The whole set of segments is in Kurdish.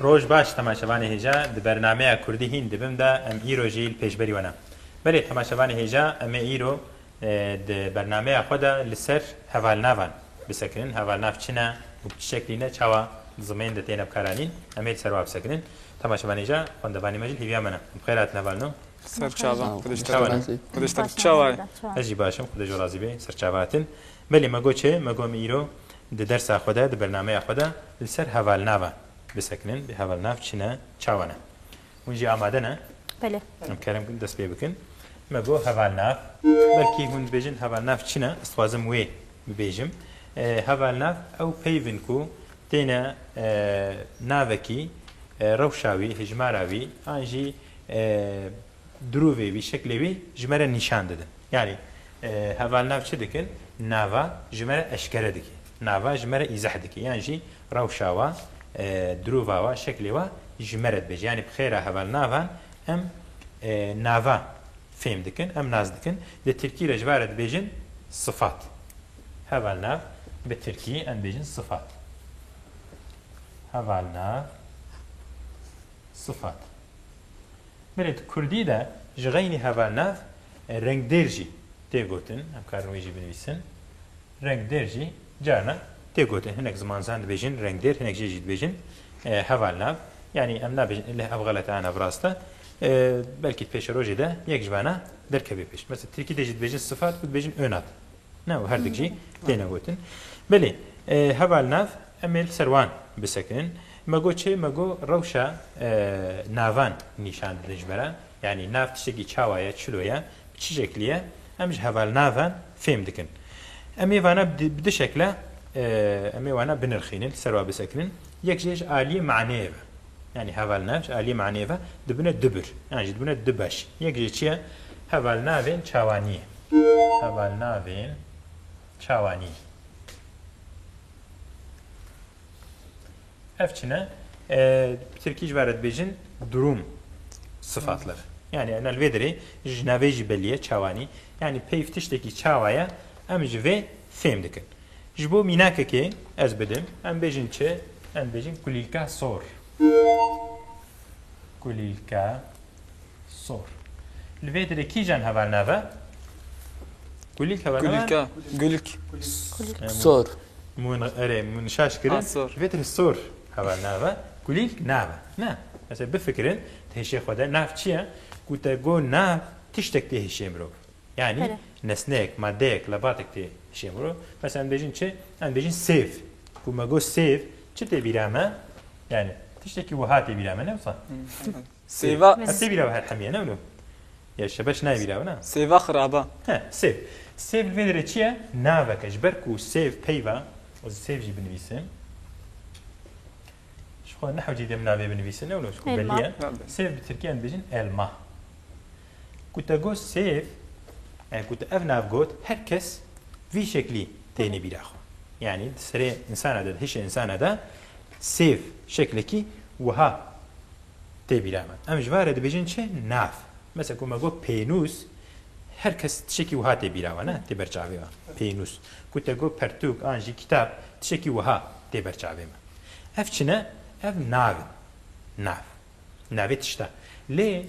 Roj baş temaşevanê hêja di bernameya Kurdî hîn dibim de em îro jî li pêşberî we ne. Belê temaşevanê hêja em ê îro Di bernameya xwe de li ser hevalnavan bisekinin, hevalnav çi ne û bi çi şeklî ne, çawa di zimên de têne bikaranîn, em ê li ser wan bisekinin. Temaşevanê jî, xwendevanê me jî li hêviya me ne. Em bi xêr hatin hevalno. Serçava, Xwedêşteribin, çawa ye? Ez jî baş im, Xwedê ji we razî be. Serçava hatin. Belê me got çi? Me got em îro di dersa xwe de, di bernameya xwe de li ser hevalnavan bisekinin. Hevalnav çi ne, çawa ne? Hûn jî amade ne? Belê. Em kerem kin dest pê bikin. Me got hevalnav. Belkî hûn dibêjin hevalnav çi ne? Ez dixwazim wê bibêjim. Hevalnav ew peyv in ku têne navekî rewşa wî, hijmara wî an jî dirûvê wî, şeklê wî ji me re nîşan didin. Yanî hevalnav çi dikin? Nava ji me re eşkere dike. Nava ji me re îzeh dike. Yan jî Rewşa we, dirûva we, şeklê we ji me re dibêje. Yanî bi xêra hevalnavan em nava fêm dikin, em nas dikin. Di tirkî re ji van re dibêjin sifat. Hevalnav bi tirkî em dibêjin sifat. Hevalnav sifat. Belê di kurdî de ji xeynî hevalnav rengdêr jî tê gotin. Em karin wê jî binivîsin. Rengdêr jî. Carna tê gotin hinek zimanzan dibêjin rengdêr hinek jê jî dibêjin hevalnav yanî em nabêjin leh ev xelet e nav rast e belkî pêşerojê de yek ji bana derkevê pêş mesela tirkî de jî dibêjin sifat ku dibêjin ônat ne û herdik jî têne gotin belê hevalnav em ê li ser wan bisekinin me got çê me got rewşa navan nîşan didin ji me re yanî nav tiştekî çawa ye çilo ye Çi şeklî ye? Em ji hevalna ve fêm dikin. Em ê vana bi du şekle em ê wana binirxînin, li ser wan bisekinin. Yek jî ji aliyê maneyê ve. Yanî hevalna ji aliyê maneyê ve dibine du bir. Yan jî dibine du beş. Yek jî çi ye? Hevalnavên çawaniyê. Hevalnavên çawaniyê. Ev çi ne? Tirkî ji vere dibêjin durum sıfatlar. Yani em li vê derê ji navê jî belî ye çawanî. Yani peyv tiştekî çawa ye em ji vê fêm dikin. Ji bo mînakekê ez bidim em bêjin çi? Em bêjin kulîlka sor. Kulîlka Sor. Li vê dirê kîjan heval nave? Gulîk heval nave? Gulîk e. Gulîk. Sor. Mûn erê mûn şaş kirin. Ha, sor. Li vê dirê sor heval nave. Gulîk nave. Ne. Mesela bifikirin di hêşê xwe de nav çi ye? Ku te got nav tiştek tê hêşê mirov. Yanî Pere. nesneyek, madeyek, lebatek tê hêşê mirov. Mesela em bêjin çi? Em bêjin sêv. Ku me got sêv çi tê bîra me? Yanî tiştekî wiha tê bîra me ne wisa? Sêva. Ez sê bîra her hemî ye ne wilo. Ya şebeş nayê bîra wina. Sêva xiraba. He, sêv. Sêv li vê derê çi ye? Navek e. Ji ber ku sêv peyva, ez sêv jî binivîsim. Ji xwe nehewcî dê min navê binivîsim ne wilo ji ku belî ye. Sêv bi tirkî em dibêjin elma. Ku te got sêv, e, ku te ev nav got, her kes vî şeklî têne bîra xwe. Yanî di serê insana de, di hişê insana de, Sêv, şeklekî wiha tê bîra min. Em ji van re dibêjin çi? Nav. Mesela ku me got pênûs, her kes tişekî wiha tê bîra we ne, tê ber çavê we, pênûs. Ku te got pertûk an jî kitap, tişekî wiha tê ber çavê me. Ev çi ne? Ev nav in. Nav. Navê tişta. Lê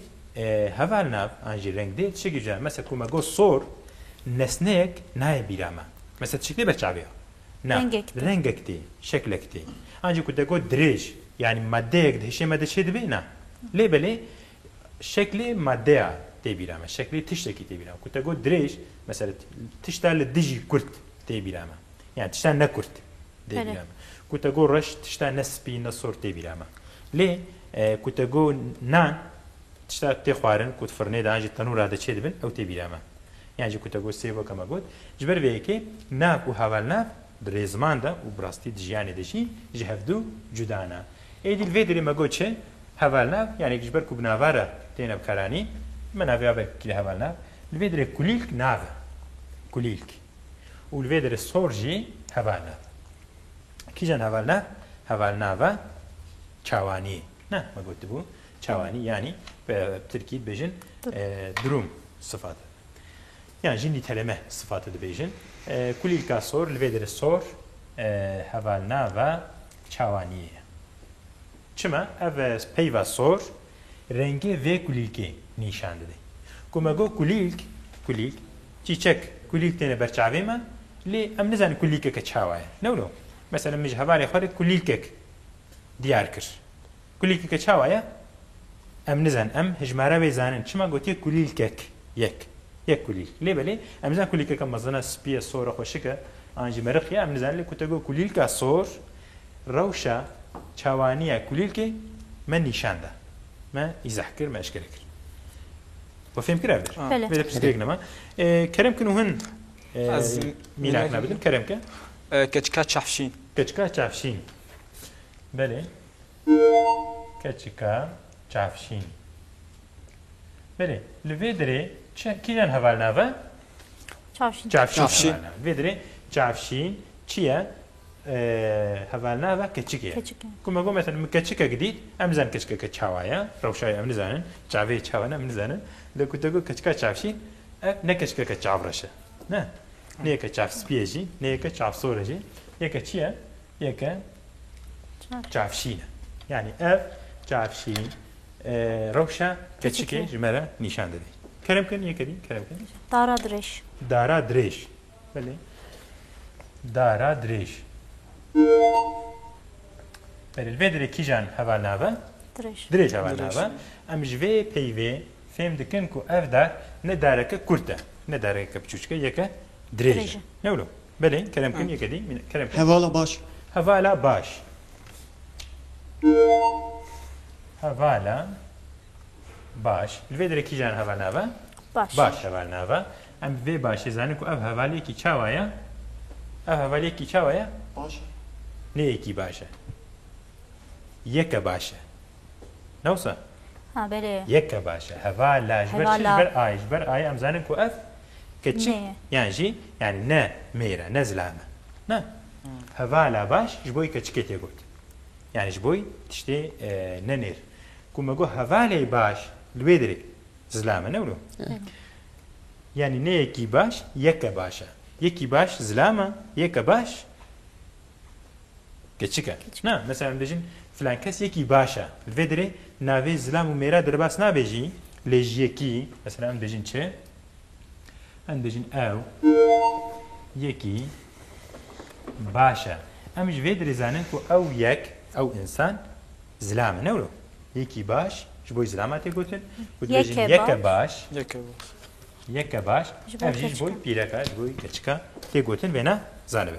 heval nav an jî rengdêr tişekî cuda ye. Mesela ku me got sor, nesneyek nayê bîra me. Mesela tişek tê ber çavê we. Na, Rengek tê. rengek tê, şeklek tê. Ancî ku te got dirêj, yanî maddeyek di hişê me de çêdibe, na. Lê belê şeklê maddeya tê bîra me, şeklê tiştekî tê bîra me. Ku te got dirêj, mesela tişta li dijî kurt tê bîra me. Yan tişta ne kurt tê Pere. bîra me. Ku te got reş, tişta ne spî ne sor tê bîra me. Lê ku te got nan, Tişta tê xwarin ku di firnê de an jî tenûra de çê dibin ew tê bîra me. Yan jî ku te got sêv weke me got. Ji ber vê yekê nak û hevalnav di rê ziman de û bi rastî di jiyanê de jî ji hev du cuda ne. Êdî li vê derê me got çi? Hevalnav yanî ji ber ku bi nava re têne bikaranîn, me navê abe kile hevalnav. Li vê derê kulîlk nav e. Kulîlk. Û li vê derê sor jî hevalnav e. Kîjan hevalnav? Hevalnava çawaniyê. Na, me gotibû çawanî yanî bi tirkî dibêjin durum sifat e. Yan jî nîteleme sifat e dibêjin. Kulîlka sor li vê derê sor hevalnava çawaniyê ye. Çima ev peyva sor rengê vê kulîlkê nîşan dide. Ku me got kulîlk, kulîlk, çîçek, kulîlk têne ber çavê me lê em nizanin kulîlkeke çawa ye. Newno. Mesela min ji hevalê xwe re kulîlkek. diyar kir. Kulîlkeke çawa ye? Em nizanin. Em hijmara wê zanin. Çima gotiye kulîlkek? Yek. Yek kulîlk. Lê belê em nizanin kulîlkeke mezin e, spî ye, sor e, xweşik e an jî meriq ye. Em nizanin. Lê ku te got kulîlka sor, rewşa çawaniya kulîlkê me nîşan da. Me îzah kir, me eşkere kir. We fêm kir ev der? Belê. Vê de pirsgirêk nema. Kerem kin û hin mînakna bidin. Kerem ke? Keçika çavşîn. Keçika çavşîn. Belê keçika çavşîn. Belê li vê dirê çi kîjan heval nave? Çavşîn. Çavşîn. Çavşîn. Vê dirê çavşîn çi ye? Heval nave keçik ye. Keçik ye. Kuma go mesela min keçikek dît, em nizanin keçikeke çawa ye, rewşayê em nizanin, çavê çawa ne em nizanin. Lê ku te got keçika çavşîn, ev ne keçikeke çavreş e. Ne. Nê yeke çavspî ye jî, nê yeke çavsor e jî. Yeke çi ye? Yeke çavşîn e. Yanî ev çavşîn rewşa keçikê ji me re nîşan dide. Kerem kin yeke dî kerem kin. Dara dirêj. Dara dirêj. Belê. Dara dirêj. Belê vê dirê kîjan heval nave? Dirêj. Dirêj heval nave. Em ji vê peyvê fêm dikin ku ev dar ne dareke kurt e. Ne dareke biçûçik e yeke dirêj e. Ne wilo? Belê, kerem kin yeke dî, mîna, kerem kin. Hevala baş. Hevala baş. Hevala baş. Li vê derê kîjan heval nava? Baş. Baş heval nava. Em bi vê başê zanin ku ev hevaliyekî çawa ye? Ev hevaliyekî çawa ye? Baş e. Neyekî baş e. Yeke baş e. Newsa. Ha belê. Yeke baş e. Heva la ji ber çi? Ji ber ayê. Ji ber ayê em zanin ku ev kiçik yan jî yanî ne mêr e, ne zilam e. Na. Heva la baş ji bo keçikê tê got. Yanî ji bo tiştê ne nêr. Ku me got heva lê baş li wê dirê zilam e ne wilo? Yanî ne yekî baş, yeke baş e. Yekî baş zilam e, yeke baş Keçik e. Na, mesela em dibêjin filan kes yekî baş e. Li vê derê navê zilam û mêra derbas nabe jî lê ji yekî mesela em dibêjin çi? Em dibêjin ew yekî baş e. Em ji vê derê zanin ku ew yek, ew însan zilam e ne wilo? Yekî baş ji bo zilama tê gotin û dibêjin yeke baş. Yeke baş. Yeke baş. Ev jî ji bo pîreka, ji bo keçika tê gotin vêna zanibe.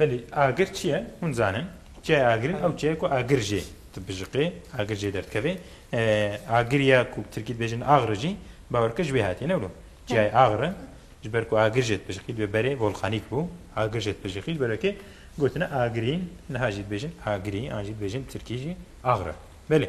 Belê agir çi ye? Hûn zanin çiyayê agirîn ew çiye ku agir jê dibijiqê, agir jê derdikevê. Agir ya ku bi tirkî dibêjin agri jî bawer bike ji wê hatiye ne wilo. Çiyayê agri ji ber ku agir jê dibijiqî divê berê volkanîk bû. Agir jê dibijiqî ji ber wekê gotine agirîn niha jî dibêjin agirî an jî dibêjin bi tirkî jî agri. Belê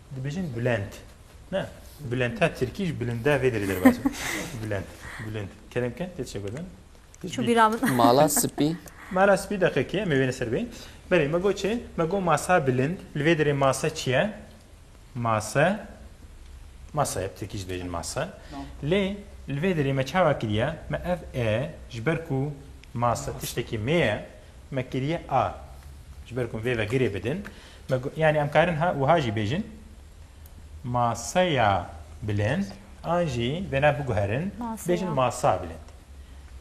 Dibêjin bilend. Ne. Bilendta tirkî ji bilinda vê derê derbas e. Bilend. Bilind. Kerem ke tê çi gotn? Çû bîra min. Mala spî. Mala spî deqekî em ê wêne ser bê. Belê me got çi? Me got masa bilind. Li vê derê masa çi ye? Masa masa ye. Tirkî jî dibêjin masa. Lê li vê derê me çawa kiriye? Me ev e ji ber ku masa tiştekî mê ye me kiriye a. Ji ber ku em vê vegirê bidin. Me got, Yanî em karin wiha jî bêjin, Maseya bilind an jî vêna biguherin bêjin masa bilind.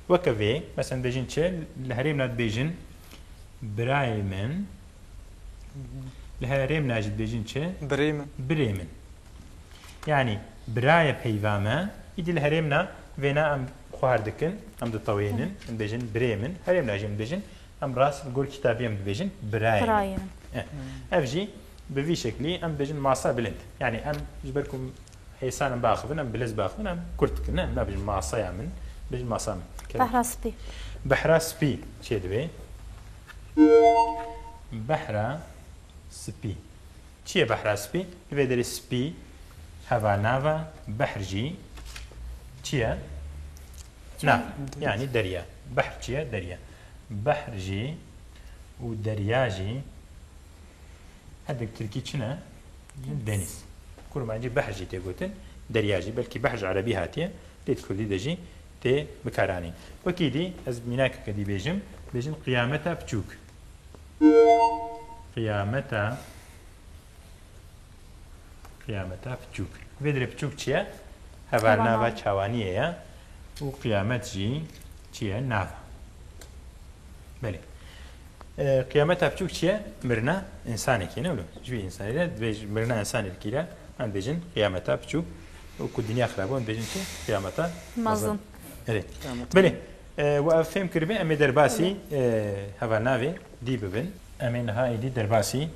Weke vê, mesela dibêjin çi? Li herêmna dibêjin birayê min, li herêmna jî dibêjin çi? Birê min. Birê min. Yanî birayê peyva me, îdî li herêmna vêna em xwar dikin, em ditewênin, em dibêjin birê min, herêmna jî em dibêjin Em rast li gor kitabî em dibêjin birayên min. Ev jî bi vî şeklî em dibêjin masa bilind. Yanî em ji ber ku hêsan em biaxivin em bilez biaxivin em kurt dikin. Ne em nabêjin masaya min, dibêjin masa min. Behra spî. Behra spî çê divê? Behra spî. Çi ye behra spî? Li vê derê spî heva nav e, behr jî çi ye? Nav. Yanî derya. Behr çi ye? Derya. Behr jî û derya jî hindek tirkî çi ne? Denîz. Kurmancî behr jî tê gotin, derya jî. Belkî behr ji erebî hatiye, lê di kurdî de jî tê bikaranîn. Wekî dî ez mînakeke dî bêjim, bêjim qiyameta piçûk. Qiyameta Qiyameta piçûk. Vê dirê piçûk çi ye? Hevalnava çawaniyê ye û qiyamet jî çi ye? Nava. Belê. Qiyameta piçûk çi ye? Mirina însanekî ne wilo. Ji vî însanî re dibêj mirina însanî dikî re em dibêjin qiyameta piçûk û ku dinya xirab em dibêjin çi? Qiyameta mezin. Belê. Belê. و ev fêm kiribê em ê derbasî hevalnavê dî bibin. Em ê niha êdî derbasî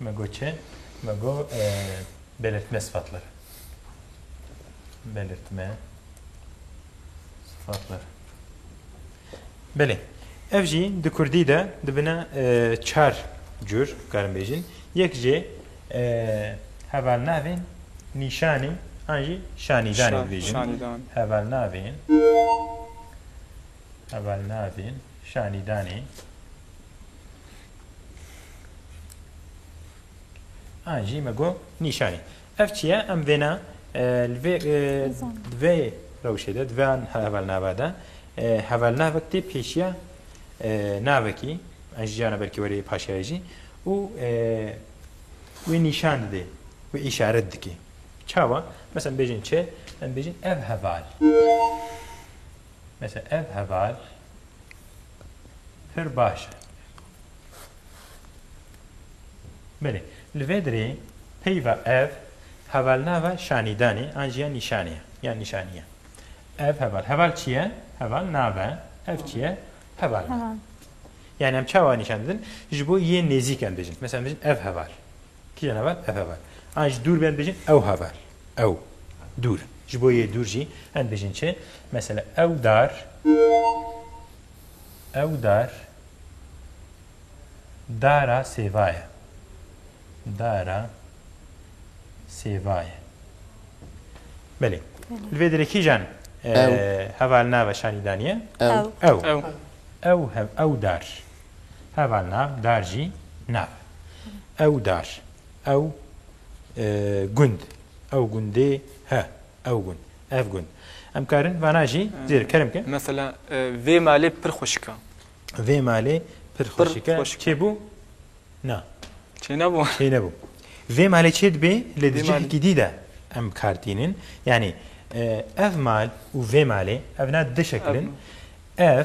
Me got çi? Me got belirtme sıfatları. Belirtme sıfatları. Belê. Ev jî di Kurdî de dibine çar cur karin bêjin. Yek jê hevalnavên nîşanî an jî şanîdanê dibêjin. Hevalnavên hevalnavên şanîdanê Ah, jî me got nîşanî. Ev çi ye? Em vêna li vê di vê rewşê de di vê hevalnava de hevalnavek tê pêşiya navekî ez ji cana belkî werê paşayê jî û wê nîşan didê wê îşaret dikê. Çawa? Mesela bêjin çi? Em bêjin ev heval. Mesela ev heval Pir baş e. Belê. Li vê dirê peyva ev hevalnava şanîdanê an jî ya nîşanê ye yan nîşanî ye. Ev heval. Heval çi ye? Heval nav e. Ev çi ye? Heval nav. Heval. Yani em çawa nîşan didin? Ji bo yên nêzîk em bijîn. Mesela em bijîn ev heval. Kî ne heval? Ev heval. An ji dûr bên bêjin ew heval. Ew dûr in. Ji bo yê dûr jî em bêjin çi? Mesela ew dar ew dar dara sêva ye. Dara sêva ye. Belê. Li vê derê kîjan heval nava şanî daniye? Ew. Ew. Ew. Ew, ew dar. Heval nav, dar jî nav. Ew dar, ew gund, ew gundê he, ew gund, ev gund. Em karin vana jî zêde kerem bikin. Mesela vê malê pir xweşik e. Vê malê pir xweşik e. Çêbû? Na. Çênebû. Çênebû. Vê malê çê dibê lê di cihekî dî de em bi kar tînin. Yanî ev mal û vê malê ev na di şekil in. Ev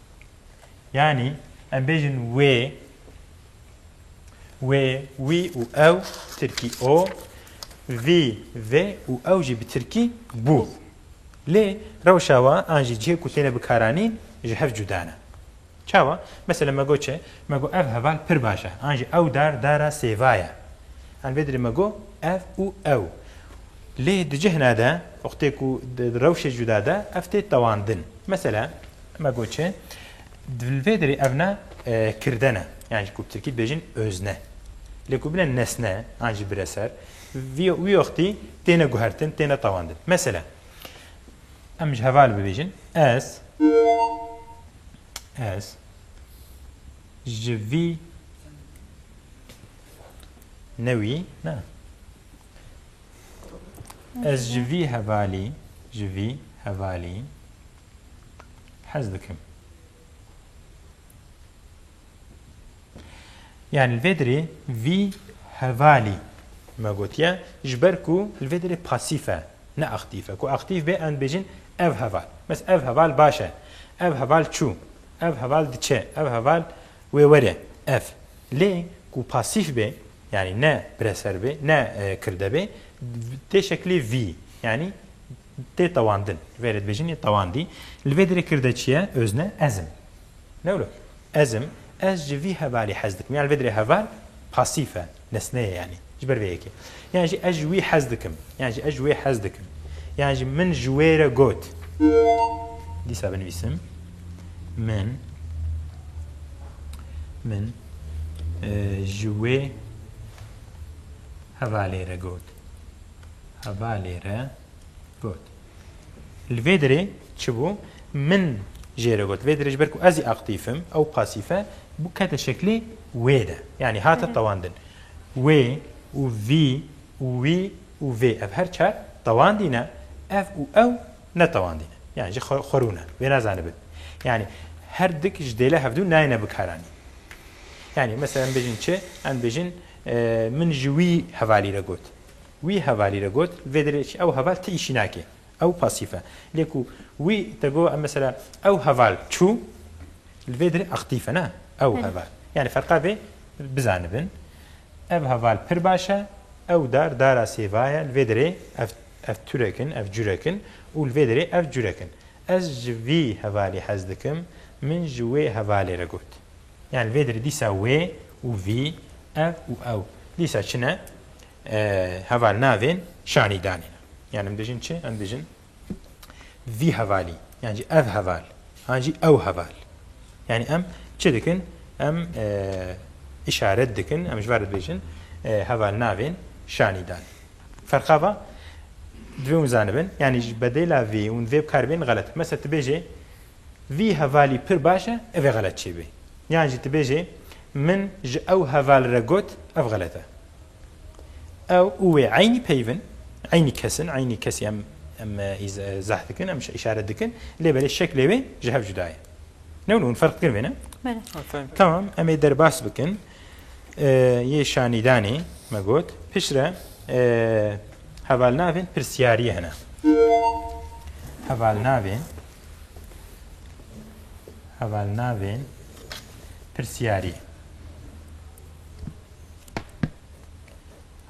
Yanî em bêjin wê wê wî û ew tirkî o vî vê û ew jî bi tirkî bû. Lê rewşa wan an jî cihê ku têne bikaranîn ji hev cuda ne. Çawa? Mesela me got çi? Me got ev heval pir baş e an jî ew dar dara sêva ye. An vê dirê me got ev û ew. Lê di cihna de wextê ku di rewşê cuda de ev tê tewandin. Mesela. Me got çi? Di vê derê ev ne kirden e. Yani ku bi Tirkî dibêjin özne. Lê ku bine nesne an jî bire ser. Vî wî wextî têne guhertin, têne tewandin. Mesela em ji heval bibêjin ez ez ji vî newî ne Ez ji vî hevalî, ji vî hevalî hez dikim. Yani li vê dirê vî hevalî me gotiye ji ber ku li vê dirê pasîf e ne aktîf e. Ku aktîf bê em dibêjin ev heval. Mes ev heval baş e, ev heval çû, ev heval diçe, ev heval Wê were ev. Lê ku pasîf bê yanî ne pireser bê, ne kirde bê tê şeklê vî yanî tê tewandin. Ji verê dibêjin yê tewandî. Li vê derê kirde çi ye? Özne ez im. Ne wilo? Ez im. Ez ji vî hevalî hez dikim. Yan li vê derê heval pasîf e. Nesne ye yanî ji ber vê yekê. Yan jî ez ji wî hez dikim. Yan jî ez ji wê hez dikim. Yan jî min ji wê re got. Dîsa binivîsim min min ji wê hevalê re got. Hevalê re got. Li vê derê çi bû? Min jê re got, vê derê ji ber ku ez jî aktîf im, ew pasîf e, bû kete şeklê wê de. Yanî hate tewandin. Wê û vî û wî û vê ev her çar tewandî ne, ev û ew ne tewandî ne. Yanî ji xwe xwe rûne. Wê nazanibin. Yanî her dik ji dêle hevdû nayêne bikaranîn. Yanî mesela em bêjin çi? Em dibêjin min ji wî hevalî re got. Wî hevalî re got, vê derê çi ew heval ti îşî nake, ew pasîf e. Lê ku wî te got, mesela ew heval çû, li vê derê aktîf e, ne ew heval. Yanî ferqa vê bizanibin. Ev heval pir baş e, ew dar dara sêva ye, li vê derê ev ev turek in, ev curek in û li vê derê ev curek in. Ez ji vî hevalê hez dikim, min ji wê hevalê re got. Yanî li vê derê dîsa wê û vî, ev û ew dîsa çi ne? Heval navên şanî danîne. Yan em dijin çi? Em dijin vî hevalî yan jî ev heval yan jî ew heval. Yanî em çi dikin? Em îşaret dikin, em ji ber dibêjin heval navên şanî danî. Ferqa va divê hûn zanibin yanî ji bedêla vê û vê bi kar bên xelet. Mesela tu bêjê vî hevalî pir baş e ev ê xelet çêbê. Yan jî tu bêjê min ji ew heval re got ev xelet e. Ew û wê eynî peyv in, eynî kes in, eynî kesî em em zeh dikin, em îşaret dikin lê belê şeklê wê ji hev cuda ye. Ne hûn ferq dikin vê ne? Tamam em ê derbas bikin yê şanîdanê me got piştre hevalnavên pirsiyariyê hene. Hevalnavên hevalnavên pirsiyariyê.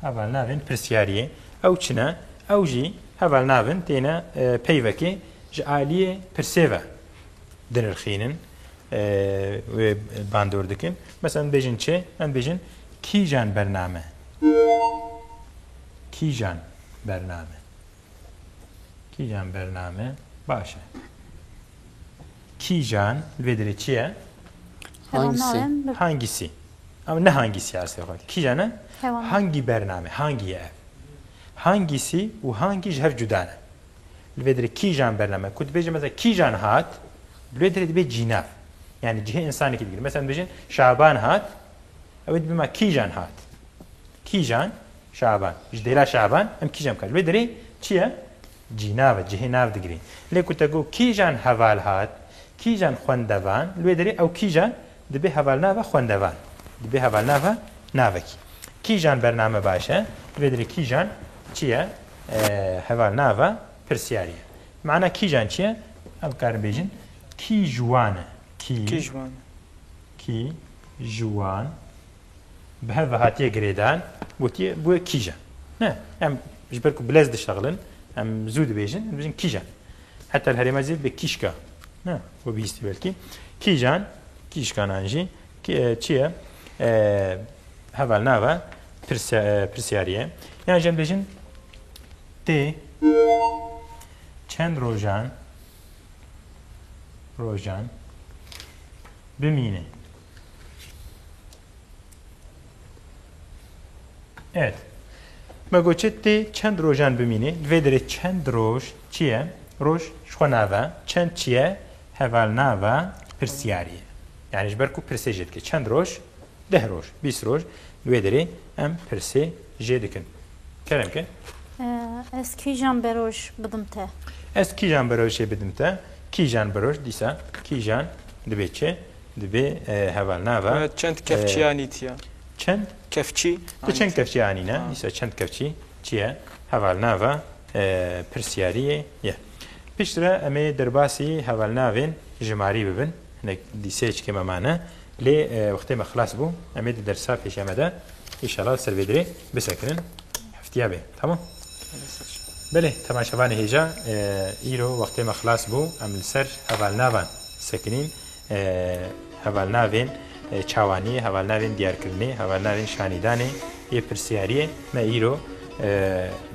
Heval navên pirsiyariyê ew çi ne? Ew jî heval navin têne peyvekê ji aliyê pirsê ve dinirxînin wê bandor dikin. Mesela bêjin çê em bêjin kîjan bername. Kîjan bername. Kîjan bername baş e? Kîjan li vê dirê çi ye? Hangisi? Hangisi? Ama ne hangisi asê xwe. Kîjan e? Hangi bername? Hangi ye ev? Hangisi û hangi ji hev cuda ne. Li vê dirê kîjan bername? Ku dibêje mesela kîjan hat, li vê dirê dibe cînav. Yani cihê insanekî digire. Mesela dibêjin Şaban hat, ew ê dibima kîjan hat. Kîjan Şaban, ji dêla Şaban em kîjan bikar? Ji wê derê çi ye? Cînav e, cihê nav digire. Lê ku te got kîjan hevalhat, kîjan xwendevan, li wê derê ew kîjan dibe hevalnava xwendevan, dibe hevalnava navekî. Kîjan bername baş e, li wê derê kîjan çi ye? Hevalnava pirsyarî ye. Mana kîjan çi ye? Em bikarin bêjin kî ji wan e? Kî ji wan Bi hev ve hatiye girêdan, gotiye gu kîje. Ne, em ji ber ku bi lez dişexilin, em zû dibêjin, em dibêjin kîje. Heta li herêma zî bi kîşka. Ne, we bihîstî belkî. Kîjan, kîşkanan jî çi ye? Heval nava pirsiyarî ye. Yan jî em dibêjin tê çend rojan rojan bimîne. Evet. Me goçê tê çend rojan bimînê. Li vê derê çend roj çi ye? Roj ji xwe nave. Çend çi ye? Hevalnava pirsiyarî ye. Yani ji ber ku pirsê jê dike. Çend roj? Deh roj, bîst roj. Li wê derê em pirsê jê dikin. Kerem ke? Ez kîjan bi roj bidim te? Ez kîjan bi rojê bidim te? Kîjan bi roj dîsa kîjan dibê çi? Divê heval nava. Ve çend kevçî anî tiya? Çend? Kevçî. Ti çend kevçî anî ne? Dîsa çend kevçî çi ye? Heval nava pirsyariyê ye. Piştre em ê derbasî heval navên jimarî bibin. Hinek dîseyê çikê me mane. Lê wextê me xilas bû. Em ê di dersa pêşiya me de înşallah li ser vê dirê bisekinin. Heftiya bê. Tamam. Belê temaşevanê hêja îro wextê me xilas bû. Em li ser heval navan sekinîn. Hevalnavên çawanî, hevalnavên diyarkirinê, hevalnavên şanîdanê yê pirsyariyê me îro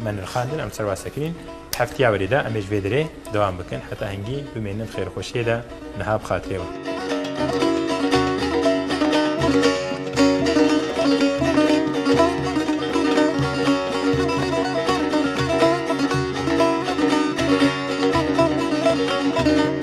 me nirxandin, em serwase kirîn. Heftiya werî de em ê ji vê derê dewam bikin heta hingî bimînin di xêrxweşiyê de niha bi xatirê wan.